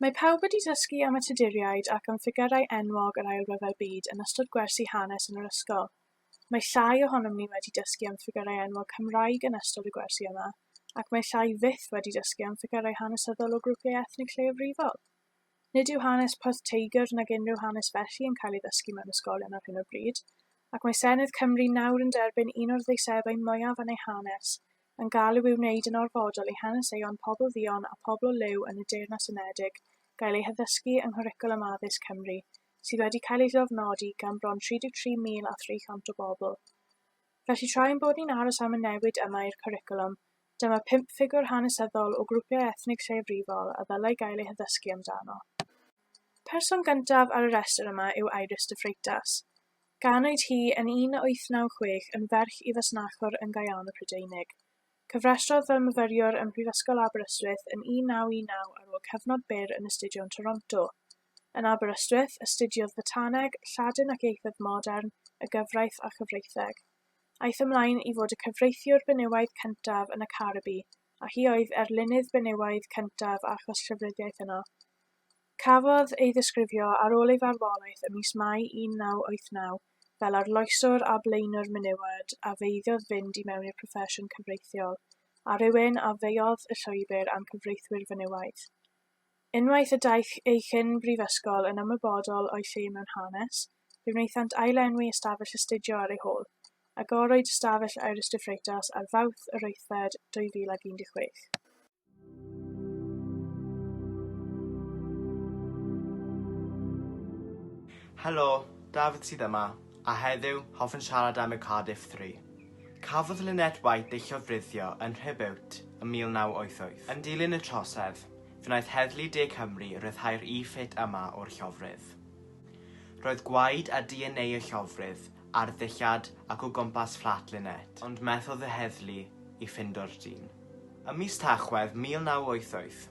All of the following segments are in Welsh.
Mae pawb wedi dysgu am y Tuduriaid ac am ffigyrau enwog yr Ail Ryfel Byd yn ystod gwersi hanes yn yr ysgol. Mae llai ohonom ni wedi dysgu am ffigyrau enwog Cymraeg yn ystod y gwersi yma, ac mae llai fyth wedi dysgu am ffigyrau hanesyddol o grwpiau ethnig lleiafrifol. Nid yw hanes Porth Teigr nag unrhyw hanes felly yn cael ei ddysgu mewn ysgolion ar hyn o bryd, ac mae Senedd Cymru nawr yn derbyn un o'r ddeiseddau mwyaf yn ei hanes, yn galw i wneud yn orfodol i haneseion pobl dduon a phobl o liw yn y Deyrnas Unedig gael eu haddysgu yng nghwricwlwm addysg Cymru, sydd wedi cael ei lofnodi gan bron 33,300 o bobl. Felly, tra ein bod ni'n aros am y newid yma i'r cwricwlwm, Dyma pump ffigwr hanesyddol o grwpiau ethnig lleiafrifol a ddylai gael eu haddysgu amdano. Person gyntaf ar y rhestr yma yw Iris de Freitas. Ganwyd hi yn 1896 yn ferch i fasnachwr yn Gaeano Prydeinig. Cyfrestrodd fel myfyriwr ym Mhrifysgol Aberystwyth yn 1919 ar ôl cyfnod byr yn astudio yn Toronto. Yn Aberystwyth, astudiodd Fotaneg, Lladin ac Ieithoedd Modern, y Gyfraith a Chyfreitheg. Aeth ymlaen i fod y cyfreithiwr benywaidd cyntaf yn y Caribî, a hi oedd erlynydd benywaidd cyntaf achos llyfryddiaeth yno. Cafodd ei ddisgrifio ar ôl ei farwolaeth ym mis Mai 1989 fel arloeswr a blaenwr menywod a feiddodd fynd i mewn i'r proffesiwn cyfreithiol, a rhywun a feuodd y llwybr am cyfreithwyr fenywaidd. Unwaith y daeth ei chyn brifysgol yn ymwybodol o'i lle mewn hanes, fe wnaethant ail-enwi ystafell astudio ar ei hôl, Agoroid Ystafell Iris de Freitas ar Fawrth yr wythfed 2016. Helo, Dafydd sydd yma, a heddiw hoffwn siarad am y Cardiff Three. Cafodd Lynette White ei llofruddio yn Nhrebeurt ym 1988. Yn dilyn y trosedd, fe wnaeth Heddlu De Cymru ryddhau'r e-fit yma o'r llofrudd. Roedd gwaed a DNA y llofrudd ar ddillad ac o gwmpas fflat Lynette, ond methodd y heddlu i ffindo'r dyn. Ym mis Tachwedd 1988,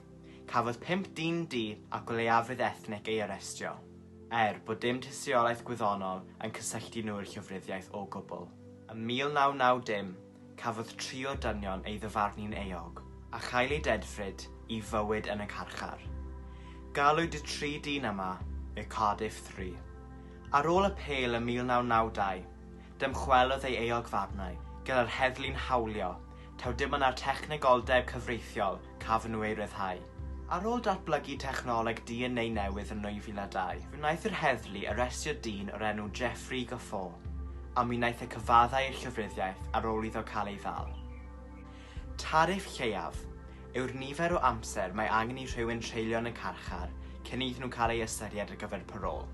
cafodd pump dyn du ac o leiafrif ethnig ei arestio. er bod dim tystiolaeth gwyddonol yn cysylltu nhw i'r llofruddiaeth o gwbl. Ym 1990, cafodd tri o'r dynion ei ddyfarnu'n euog, a chael eu dedfryd i fywyd yn y carchar. Galwyd y tri dyn yma y Cardiff Three. Ar ôl y pêl ym 1992, dymchwelodd ei euogfarnau gyda'r heddlu'n hawlio, taw dim ond ar technegoldeb cyfreithiol cafon nhw eu rhyddhau. Ar ôl datblygu technoleg DNA newydd yn 2002, fe wnaeth yr heddlu arestio dyn o'r enw Jeffrey Gaffor, a mi wnaeth e cyfaddau i'r llyfryddiaeth ar ôl iddo cael ei ddal. Tariff lleiaf yw'r nifer o amser mae angen i rhywun treulio yn y carchar cyn iddyn nhw cael ei ystyried ar gyfer parôl.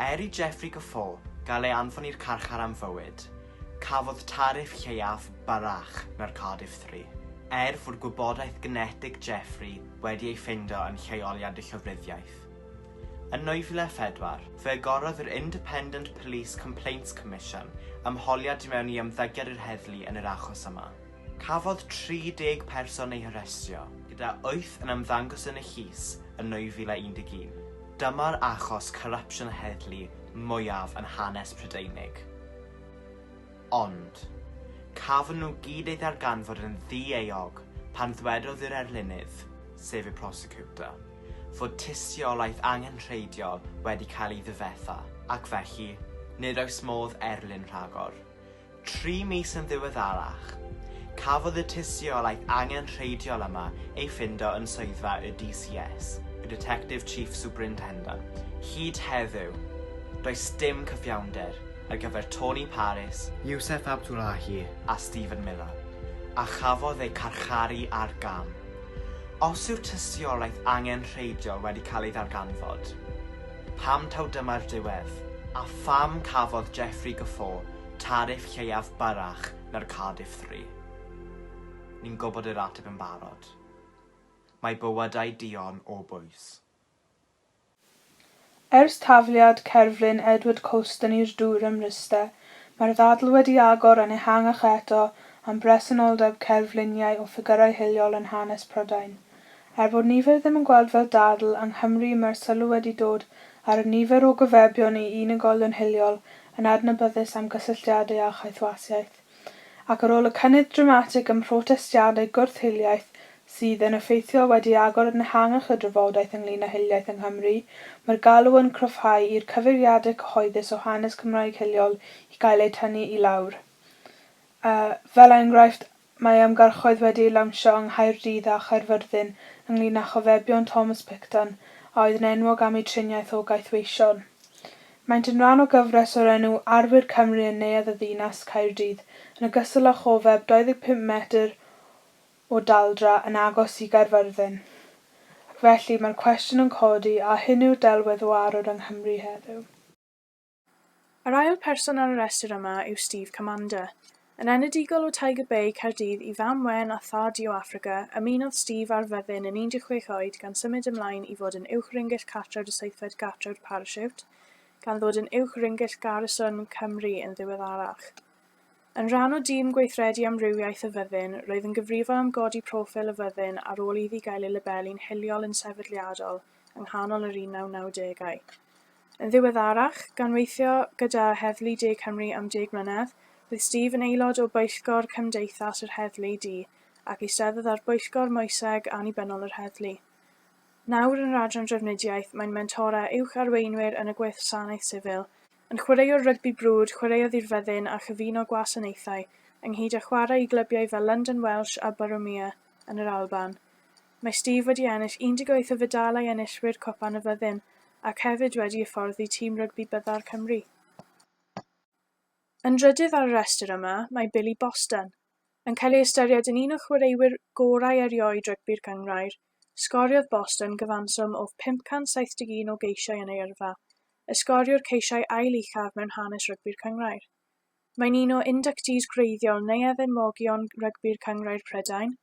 Er i Jeffrey Gaffor gael ei anfon i'r carchar am fywyd, Cafodd tariff lleiaf Barrach na'r Cardiff Three, er fod gwybodaeth genetig Jeffrey wedi ei ffeindio yn lleoliad y llofruddiaeth. Yn 2004, fe agorodd yr Independent Police Complaints Commission ymholiad i mewn i ymddygiad yr heddlu yn yr achos yma. Cafodd 30 person eu harestio, gyda wyth yn ymddangos yn y llys yn 2011. Dyma'r achos corrupsiwn heddlu mwyaf yn hanes Prydeinig. Ond, cafon nhw gyd eu ddarganfod yn ddi-euog pan ddwedodd yr erlynydd, sef y prosecutor, fod tystiolaeth angenrheidiol wedi cael ei ddifetha, ac felly, nid oes modd erlyn rhagor. Tri mis yn ddiweddarach, cafodd y tystiolaeth angenrheidiol yma ei ffindo yn swyddfa y DCS, y Detective Chief Superintendent. Hyd heddiw, does dim cyfiawnder ar gyfer Tony Parris, Yousef Abdullahi a Stephen Miller, a chafodd eu carcharu ar gam. Os yw'r tystiolaeth angenrheidiol wedi cael ei ddarganfod, Pam taw dyma'r diwedd? A pham cafodd Jeffrey Guffaw tariff lleiaf byrrach na'r Cardiff Three? Ni'n gwybod yr ateb yn barod. Mae bywydau duon o bwys. Ers tafliad cerflun Edward Colston i'r dŵr ym Mryste, mae'r ddadl wedi agor yn ehangach eto am bresenoldeb cerfluniau o ffigyrau hiliol yn hanes Prydain. Er bod nifer ddim yn gweld fel dadl yng Nghymru mae'r sylw wedi dod ar y nifer o gyfebion i unigolion hiliol yn adnabyddus am gysylltiadau â chaethwasiaeth, ac ar ôl y cynnydd dramatig ym mhrotestiadau gwrth-hiliaeth sydd, yn effeithiol, wedi agor yn ehangach y drafodaeth ynglŷn â hiliaeth yng Nghymru, mae'r galw yn cryfhau i'r cyfeiriadau cyhoeddus o hanes Cymraeg hiliol i gael eu tynnu i lawr. Fel enghraifft, Mae ymgyrchoedd wedi eu lawnsio yng Nghaerdydd a Chaerfyrddin ynglŷn â chofebion Thomas Picton, a oedd yn enwog am ei triniaeth o gaethweision. Maent yn rhan o gyfres o'r enw 'Arwyr Cymru' yn Neuadd y Ddinas, Caerdydd, yn ogystal â chofeb 25 metr o daldra yn agos i Gaerfyrddin. Ac felly, mae'r cwestiwn yn codi, a hyn yw'r delwedd o arwr yng Nghymru heddiw? Yr ail person ar y rhestr yma yw Steve Commander. Yn enedigol o Tiger Bay, Caerdydd, i fam Wen a thad Joe Africa, ymunodd Steve â'r fyddin yn 16 oed gan symud ymlaen i fod yn Uwch-Ringyll Cartref y Seithfed Gartref Parasiwt, gan ddod yn Uwch-Ringyll Garrison Cymru yn ddiweddarach. Yn rhan o dîm gweithredu amrywiaeth y fyddin, roedd yn gyfrifol am godi proffil y fyddin ar ôl iddi gael ei labelu'n hiliol yn sefydliadol yng nghanol yr 1990au. Yn ddiweddarach, gan weithio gyda Heddlu De Cymru am deg mlynedd, roedd Steve yn aelod o bwyllgor Cymdeithas yr Heddlu Du ac eisteddodd ar bwyllgor Moeseg Annibynnol yr Heddlu. Nawr yn yr Adran Drafnidiaeth, mae'n mentora uwch arweinwyr yn y Gwasanaeth Sifil. Yn chwaraewr rygbi brwd, chwaraeodd i'r Fyddin a chyfuno gwasanaethau, ynghyd â chwarae i glybiau fel London Welsh a Borough Mere yn yr Alban. Mae Steve wedi ennill 18 o fedalau enillwyr Cwpan y Fyddin ac hefyd wedi hyfforddi tîm rygbi byddar Cymru. Yn drydydd ar y rhestr yma mae Billy Boston. Yn cael ei ystyried yn un o chwaraewyr gorau erioed rygbi'r Gynghrair, sgoriodd Boston gyfanswm o 571 o geisiau yn ei yrfa, y sgoriwr ceisiau ail uchaf mewn hanes rygbi'r Cynghrair. Mae'n un o inductees gwreiddiol Neuadd Enwogion Rygbi'r Cynghrair Prydain,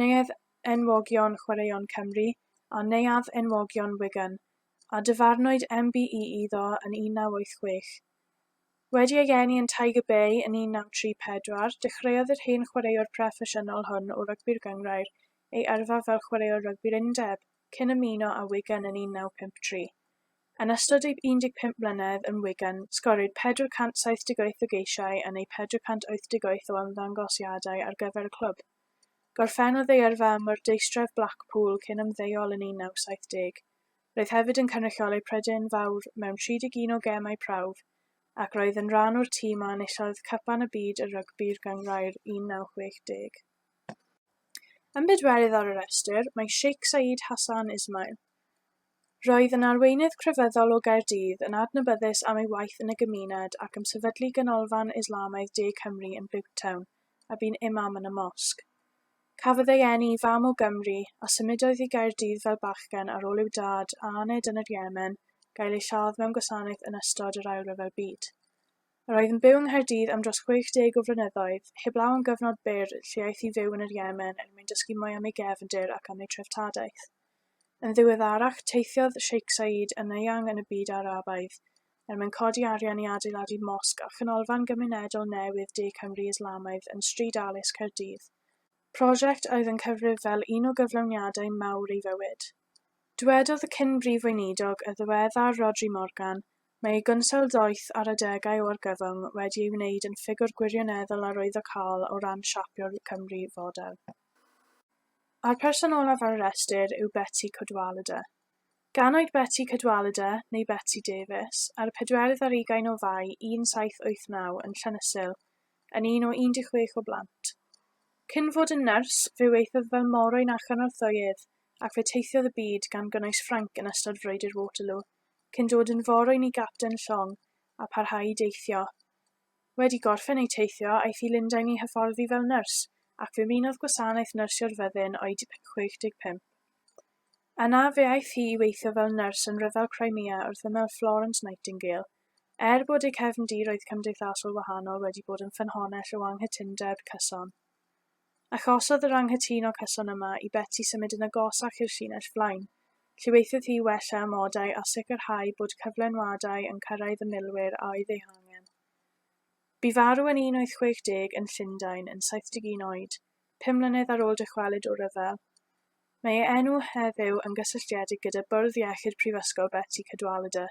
Neuadd Enwogion Chwaraeon Cymru a Neuadd Enwogion Wigan, a dyfarnwyd MBE iddo yn 1986. Wedi ei geni yn Tiger Bay yn 1934, dechreuodd yr hen chwaraewr proffesiynol hwn o rygbi'r gynghrair ei yrfa fel chwaraewr rygbi'r undeb, cyn ymuno â Wigan yn 1953. Yn ystod ei 15 mlynedd yn Wigan, sgoriwyd 478 o geisiau yn ei 488 o ymddangosiadau ar gyfer y clwb. Gorffennodd ei yrfa ym Mwrdeistref Blackpool cyn ymddeol yn 1970. Roedd hefyd yn cynrychioli Prydain Fawr mewn 31 o gemau prawf ac roedd yn rhan o'r tîm a enillodd Cwpan y Byd y Rygbi'r Gynghrair 1960. Yn bedwerydd ar y rhestr mae Sheikh Saeed Hassan Ismail. Roedd yn arweinydd crefyddol o Gaerdydd, yn adnabyddus am ei waith yn y gymuned ac am sefydlu Ganolfan Islamaidd De Cymru yn Butetown, a bu'n imam yn y mosg. Cafodd ei eni i fam o Gymru, a symudodd i Gaerdydd fel bachgen ar ôl i'w dad, a aned yn yr Yemen, gael ei lladd mewn gwasanaeth yn ystod yr Ail Ryfel Byd. Yr oedd yn byw yng Nghaerdydd am dros 60 o flynyddoedd, heblaw am gyfnod byr lle aeth i fyw yn yr Iemen er mwyn dysgu mwy am ei gefndir ac am ei treftadaeth. Yn ddiweddarach, teithiodd Sheikh Saeed yn eang yn y byd Arabaidd er mwyn codi arian i adeiladu mosg a chanolfan gymunedol newydd De Cymru Islamaidd yn Stryd Alys, Caerdydd, prosiect a oedd yn cyfrif fel un o gyflawniadau mawr ei fywyd. Dywedodd y cyn-brif weinidog y ddiweddar Rhodri Morgan, Mae ei gynsail ddoeth ar adegau o argyfwng wedi ei wneud yn ffigwr gwirioneddol arwyddocaol o ran siapio'r Cymru fodern. A'r person olaf ar y restr yw Betsi Cadwaladr. Gan oed Betsi Cadwaladr, neu Betsi Davies, ar y pedwerydd ar ugain o Fai 1789 yn Llanyssil, yn un o 16 o blant. Cyn fod yn nyrs, fe weithiodd fel morwyn a chynorthwyydd ac fe teithiodd y byd gan gynnwys Ffrainc yn ystod Frwydr Waterloo. cyn dod yn forwyn i gapten llong a pharhau i deithio. Wedi gorffen ei teithio, aeth i Lundain i hyfforddi fel nyrs, ac fe finodd gwasanaeth nyrsio'r fyddin oed 65. Yna, fe aeth hi i weithio fel nyrs yn Rhyfel Crimea wrth ymyl Florence Nightingale. Er bod ei cefndiroedd cymdeithasol wahanol wedi bod yn ffynhonnell o anghytundeb cyson, Achosodd yr anghytuno cyson yma i Betsi symud yn agosach i'r llinell flaen. Llywaethodd hi wella amodau a sicrhau bod cyflenwadau yn cyrraedd y milwyr a oedd eu hangen. Bu farw yn 1860 yn Llundain yn 71 oed, pum mlynedd ar ôl dychwelyd o'r rhyfel. Mae ei enw heddiw yn gysylltiedig gyda Bwrdd Iechyd Prifysgol Betsi Cadwaladr,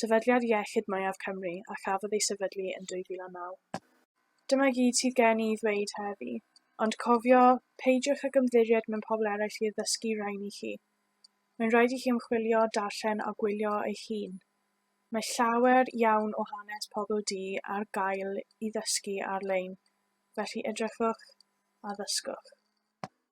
sefydliad iechyd mwyaf Cymru a chafodd ei sefydlu yn 2009. Dyma gyd sydd gen i i ddweud heddi, ond cofio, peidiwch ag ymddiried mewn pobl eraill i addysgu rain i chi. Mae'n rhaid i chi ymchwilio, darllen a gwylio eich hun. Mae llawer iawn o hanes pobl du ar gael i ddysgu ar-lein, felly edrychwch a ddysgwch.